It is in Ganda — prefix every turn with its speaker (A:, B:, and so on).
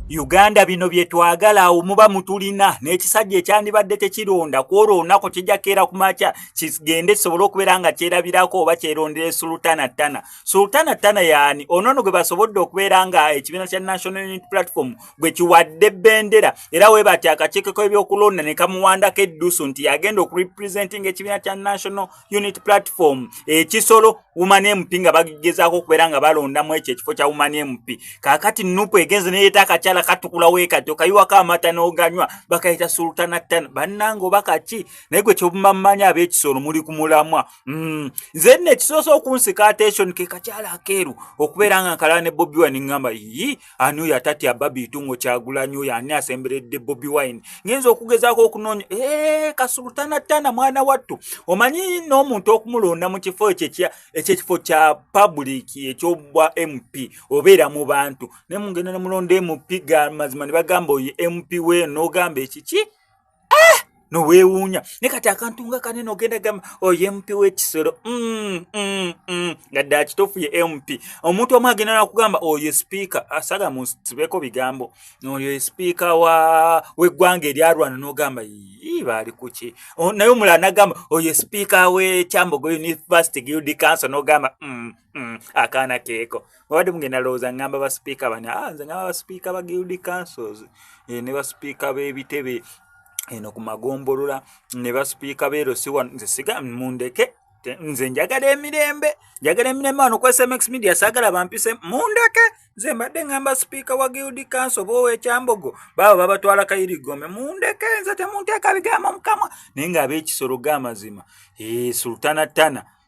A: Uganda bino bye twagala awo muba mutulina n'ekisajja ekyandibadde tekironda kwolwo olunaku kijja keera ku makya kigende kisobole okubeera nga kyerabirako oba kyerondera sultana tana sultana tana yaani onoono gwe basobodde okubeera nga ekibiina kya national unit platform bwe kiwadde bendera era we bati akakiiko k'ebyokulonda ne kamuwandako eddusu nti yagenda okurepresentinga ekibiina kya national unit platform ekisolo woman mp nga bagezaako okubeera nga balondamu ekyo ekifo kya woman mp kaakati nupu egenze neyeeta akakyala katukula weekati okayiwako amata n'oganywa bakayita sultana tan bannanga oba kaki naye gwe kyobumamanya ab'ekisolo muli ku mulamwa mm. nze nno ekisoose okunsika attention ke kakyala akeeru okubeera nga nkalala ne bobi wani ngamba yii ani oyo atatya babiitu ngo kyagulanyi oyo ani asemberedde bobi wine ngenza okugezaako okunoonya ee kasulutana tana mwana wattu omanyi n'omuntu okumulonda mu kifo ekyo ekyekifo kya public ekyobwa mp obeera mu bantu naye mungenda nemulonda mp ga mazima ne bagamba oyo mp weeno ogamba ekiki ah! noweewuunya ne kati akantu nga kanene ogenda gamba oyo oh, mp w'ekisolo mm, mm, mm. nga dde akituufu ye mp omuntu omu agenda nakugamba oyo oh, sipiika asala ah, musibeeko bigambo oyo oh, sipiika w'eggwanga eryalwana n'ogamba yii baali kuki naye omulala nagamba oyo sipiika w'ekyambogo university guild council n'ogamba akaana keeko wabadde mugenda lowooza ngamba basipiika bani a ah, nze ngamba basipiika ba guild councils eh, ne basipiika b'ebitebe eno ku magombolola ne basipiika beero siwa nze siga mundeke nze njagala emirembe njagala emirembe wano kwesmx media sagala bampise mundeke nze mbadde ngamba sipiika wa guild council oba owekyambogo baaba babatwala kayirigome mundeke nze temunteeka bigambo mukamwa naye nga abekisolo gamazima eh, sultana tana